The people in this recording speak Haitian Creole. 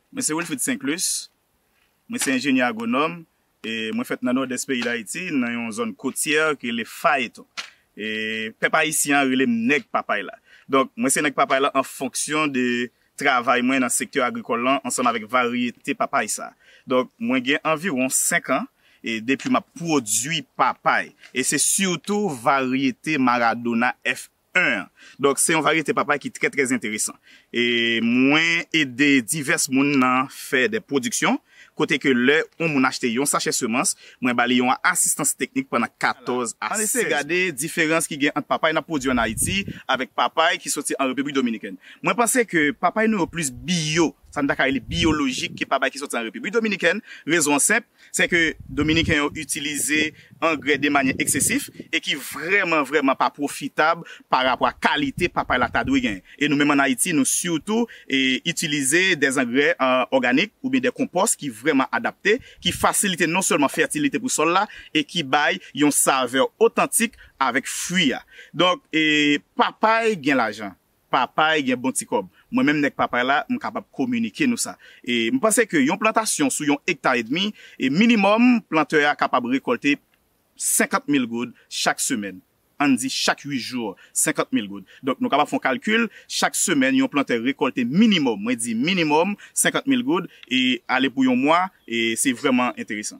Mwen se Wilfrid Sinclus, mwen se enjenyè agwonòm e mwen fèt nan Nòdès peyi Dayiti nan yon zòn kotyè ki rele Phaeton. E pèp ayisyen an rele m nèg papay la. Donk mwen se nèg papay la an fonksyon de travay mwen nan sektè agrikòl lan ansanm avèk varyete papay sa. Donk mwen gen anviwon 5 an e depi m ap pwodui papay e se sitou varyete Maradona F. 1 an. Donk se yon varyete papay ki trè trè enteresan. E mwen ede divès moun nan fè de pwodiksyon kote ke lè yon moun achte yon sachè semans, mwen ba li yon asistans teknik pandan 14 a 16 mwa. Ann eseye gade diferans ki gen ant papay n ap pwodui ann Ayiti avèk papay ki soti an Repiblik Dominikèn. Mwen panse ke papay nou yo plis biyo, sa n ta ka rele biyolojik ke papay ki soti an Repiblik Dominikèn. Rezon an senp, Se ke Dominiken yo itilize angrè de manyè eksesif e ki vrèman vrèman pa pwofitab pa rapò a kalite papay la ta dwe gen. E nou menm an Ayiti nou sitou itilize de zangrè òganik ou byen de konpòs ki vrèman adapte, ki fasilite non sèlman fètilite pou sòl la e ki bay yon savè otantik avèk fwi a. Donk papay gen lajan. Papay gen bon ti kòb. Mwen menm nèg Papay la, m kapab kominike nou sa. E m panse ke yon plantasyon sou yon ekta edmi, e minimòm plantè a kapab rekòlte 50 mil goud chak semèn. An n di chak 8 jou, 50 mil goud. Donk nou kapab fè yon kalkil, chak semèn yon plantè rekòlte minimòm, mwen di minimòm, 50 mil goud, e ale pou yon mwa, e se vrèman enteresan.